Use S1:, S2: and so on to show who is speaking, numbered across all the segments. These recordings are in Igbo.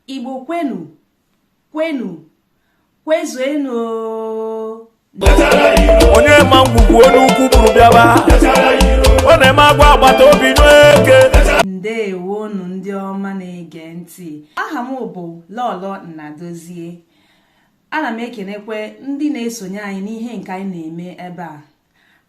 S1: igbo kwenu kwenu
S2: kwezuenu onye ma ngwugwu onye ukwu buru bịaba ọ na-eme agwa agbata obi n'eke
S1: ndewonu ndị ọma na-ege ntị aha m bụ lọlọ nnadozie ana m ekenekwe ndị na-esonye anyị n'ihe nke anyị na-eme ebe a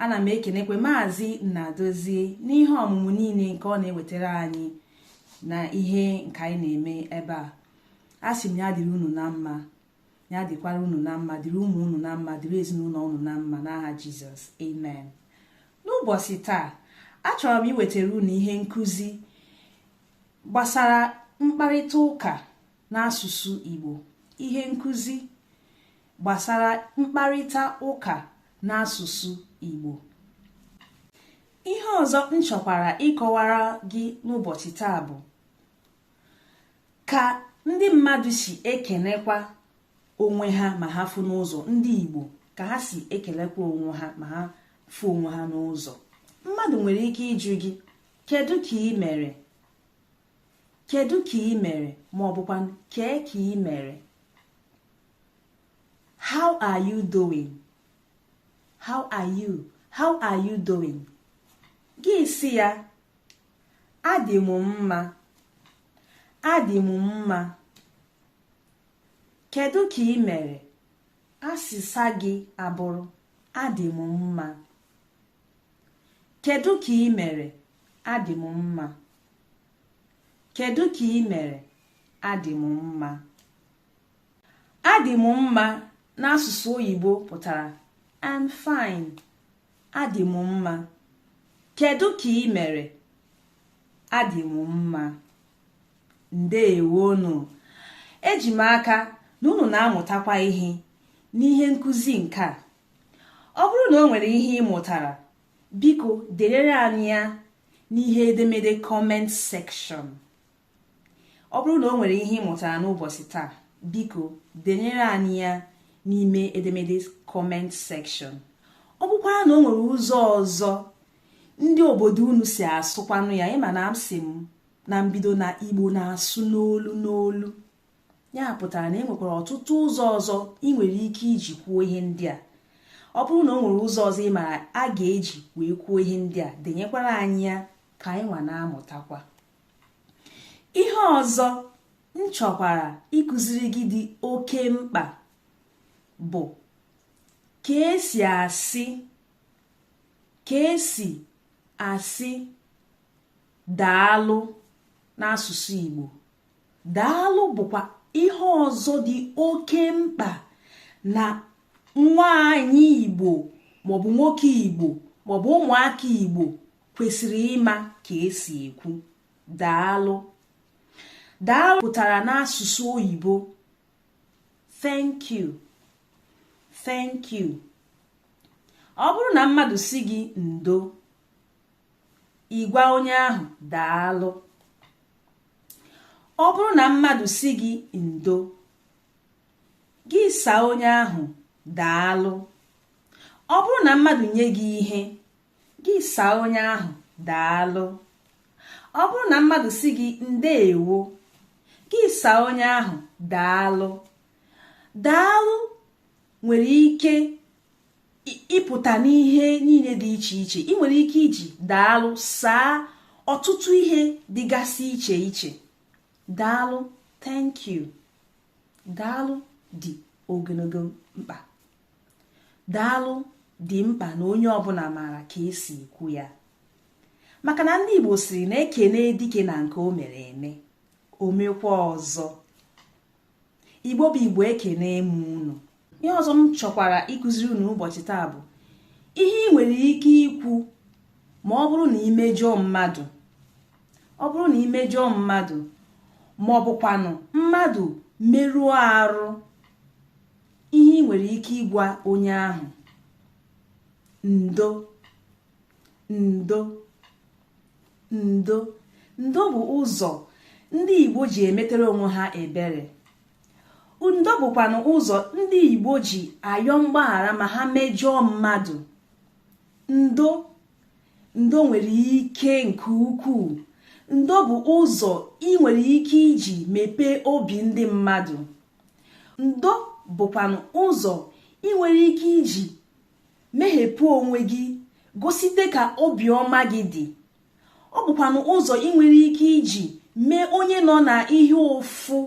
S1: ana m ekenekwe maazị Nnadozie n'ihe ọmụmụ niile nke ọ na-ewetara anyị na ihe nke anyị na-eme ebe a asị m ya dịrị unu na mma ya dịkwara unu na mma dịrị ụmụ unu na mma dịrị ezinụlọ unu na mma n'aha jizọs amen n'ụbọchị taa achọrọ m iwetara unu ihe nkụzi gbasara mkparịta ụka n'asụsụ Igbo ihe nkụzi gbasara mkparịta ụka n'asụsụ Igbo ihe ọzọ m chọkwara ịkọwara gị n'ụbọchị taa bụ ka ndị mmadụ si ekenekwa onwe ha ma ha fụ n'ụzọ ndị Igbo ka ha si ekelekwa onwe ha ma ha fụ onwe ha n'ụzọ mmadụ nwere ike ịjụ gị kedu ka i mere kedu ka i mere ma ọ bụkwa kee ka i mere how are you doing how are you how are you doing gị sị ya adị m mma adị m mma kedu ka i mere asịsa gị abụrụ adị m mma kedu ka i mere adị m mma Kedu ka i mere? Adị m mma. Adị m mma n'asụsụ oyibo pụtara I'm fine. Adị m mma. Kedu ka i mere? Adị m mma. Ndewonu. Eji m aka na unu na-amụtakwa ihe n'ihe nkụzi nke a. Ọ bụrụ na o nwere ihe ị mụtara Biko derere anyị ya n'ihe edemede comment section. Ọ bụrụ na o nwere ihe ị mụtara n'ụbọchị taa, biko denyere anyị ya n'ime edemede comment section. Ọ bụkwara na o nwere ụzọ ọzọ ndị obodo unu si asụkwanụ ya ị ma na m sị m na mbido na Igbo na-asụ n'olu n'olu. ya pụtara na e nwekwara ọtụtụ ụzọ ọzọ i nwere ike iji kwuo ihe ndị a ọ bụrụ na o nwere ụzọ ọzọ ị mara a ga-eji wee kwuo ihe ndị a denyekwara anyị ya ka anyị nwa na-amụtakwa ihe ọzọ m chọkwara ịkụziri gị dị oke mkpa bụ ka e si asị daalụ n'asụsụ Igbo daalụ bụkwa ihe ọzọ dị oke mkpa na nwaanyị igbo maọbụ nwoke igbo maọbụ ụmụaka igbo kwesịrị ịma ka esi ekwu daalụ daalụ pụtara n'asụsụ oyibo thank you thank you ọ bụrụ na mmadụ sị gị ndo ị gwa onye ahụ daalụ ọ bụrụ na mmadụ sị gị ndo gị saa onye ahụ daalụ ọ bụrụ na mmadụ nye gị ihe gị saa onye ahụ daalụ ọ bụrụ na mmadụ sị gị ndeewo gị saa onye ahụ daalụ daalụ nwere ike ịpụta n'ihe niile dị iche iche ị nwere ike iji daalụ saa ọtụtụ ihe dịgasị iche iche daalụ thank you daalụ dị ogologo mkpa daalụ dị mkpa na onye ọbụla maara ka esi ekwu ya maka na ndị Igbo sịrị na ekene dike na nke o mere eme o mekwa ọzọ igbo bụ igbo ekene m unu ihe ọzọ m chọkwara ịkụziri unu ụbọchị taa bụ ihe ị nwere ike ikwu ma ọ bụrụ na i mejọọ mmadụ ọ bụrụ na i mejọọ mmadụ ma ọ bụkwanụ mmadụ merụọ arụ ihe ị nwere ike ịgwa onye ahụ ndo ndo ndo ndo bụ ụzọ ndị igbo ji emetere onwe ha ebere ndo bụkwanụ ụzọ ndị igbo ji ayọ mgbaghara ma ha mejọọ mmadụ ndo ndo nwere ike nke ukwuu ndo bụ ụzọ ị nwere ike iji mepee obi ndị mmadụ ndo bụkwanụ ụzọ ị nwere ike iji meghepụ onwe gị gosite ka obiọma gị dị ọ bụkwanụ ụzọ ị nwere ike iji mee onye nọ na ihe ụfụ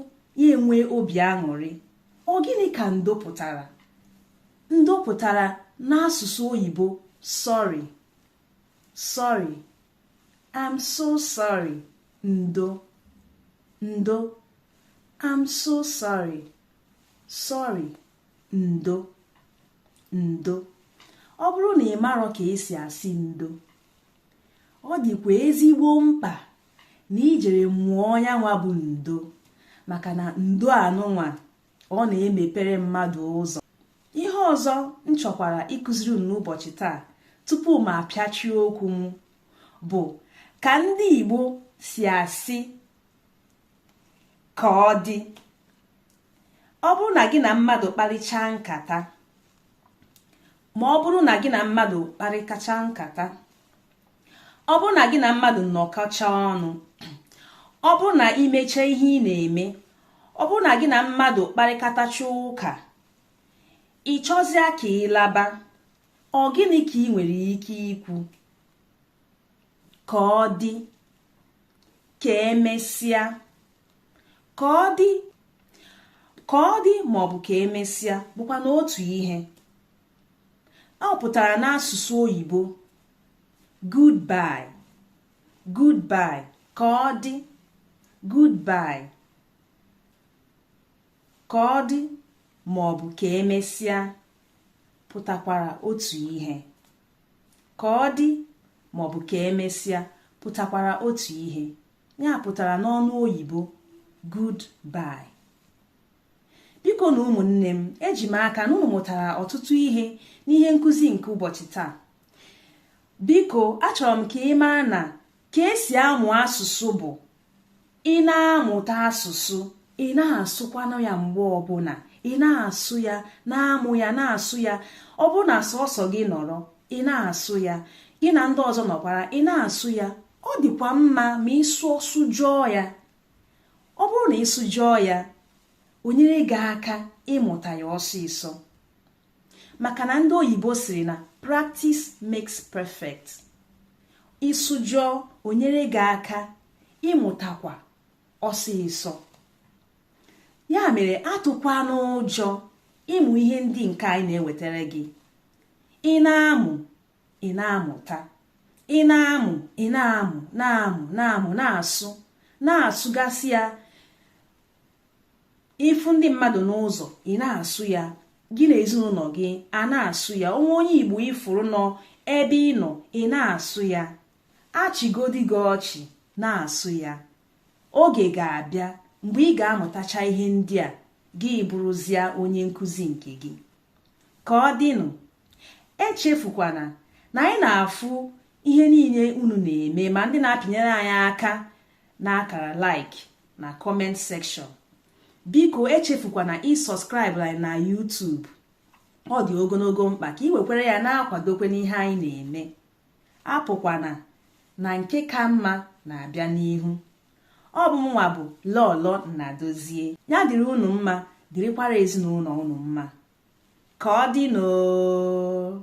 S1: ya enwe obi aṅụrị ọ gịnị ka ndo pụtara ndo pụtara n'asụsụ oyibo sorry sorry i'm so sorry ndo ndo i'm so sorry sorry ndo ndo ọ bụrụ na ị marọ ka esi asị ndo ọ dịkwa ezigbo mkpa na i jere mụọ ya nwa bụ ndo maka na ndo anụnwa ọ na-emepere mmadụ ụzọ ihe ọzọ m chọkwara ịkụziri unu n'ụbọchị taa tupu m apịachie okwu m bụ ka ndị Igbo si asị ka ọ dị ọ bụrụ na gị na mmadụ kparịchaa nkata ma ọ bụrụ na gị na mmadụ kparịkacha nkata ọ bụrụ na gị na mmadụ nọkọcha ọnụ ọ bụrụ na i mecha ihe ị na-eme ọ bụrụ na gị na mmadụ kparịkatacha ụka ị chọzịa ka ị laba ọ gịnị ka ị nwere ike ikwu ka ọ dị ka emesịa ka ọ dị ka ọ dị ma ọ bụ ka emesịa bụkwanụ otu ihe ọ pụtara n'asụsụ oyibo goodbye goodbye ka ọ dị goodbye ka ọ dị ma ọ bụ ka emesịa pụtakwara otu ihe ka ọ dị ma ọ bụ ka emesịa pụtakwara otu ihe ya pụtara n'ọnụ oyibo goodbye bikonụ ụmụnne m eji m aka na unu mụtara ọtụtụ ihe n'ihe nkụzi nke ụbọchị taa biko achọrọ m ka ị mara na ka esi amụ asụsụ bụ ị na-amụta asụsụ ị na-asụkwanụ ya mgbe ọbụla ị na-asụ ya na-amụ ya na-asụ ya ọ bụrụ na sọsọ gị nọrọ ị na-asụ ya gị na ndị ọzọ nọkwara ị na-asụ ya ọ dịkwa mma ma ịsụ sụjọọ ya ọ bụrụ na ị sụjọọ ya o nyere gị aka ịmụta ya ọsịsọ maka na ndị oyibo sịrị na practice makes perfect ị sụjọọ o nyere gị aka ịmụtakwa ọsịsọ ya mere atụkwana ụjọ ịmụ ihe ndị nke anyị na-ewetara gị ị na-amụ ị na-amụta ị na-amụ ị na-amụ na-amụ na-amụ na-asụ na-asụgasị ya ị fụ ndị mmadụ n'ụzọ ị na-asụ ya gị na ezinụlọ gị a na-asụ ya o nwee onye igbo ị fụrụ nọ ebe ị nọ ị na-asụ ya a chịgodi gị ọchị na-asụ ya oge ga-abịa mgbe ị ga-amụtacha ihe ndị a gị bụrụzia onye nkụzi nke gị ka ọ dịnụ echefukwana na anyị na-afụ ihe niile unu na-eme ma ndị na-apịnyere anyị aka n'akara like na comment section biko echefukwana ịsubscribe anyị na YouTube ọ dị ogologo mkpa ka ị wekwere ya na-akwadokwe n'ihe anyị na-eme apụkwana na nke ka mma na-abịa n'ihu ọ bụ mụnwa bụ lọlọ nnadozie ya dịrị unu mma dịrịkwara ezinụlọ unu mma ka ọ dịnụ oo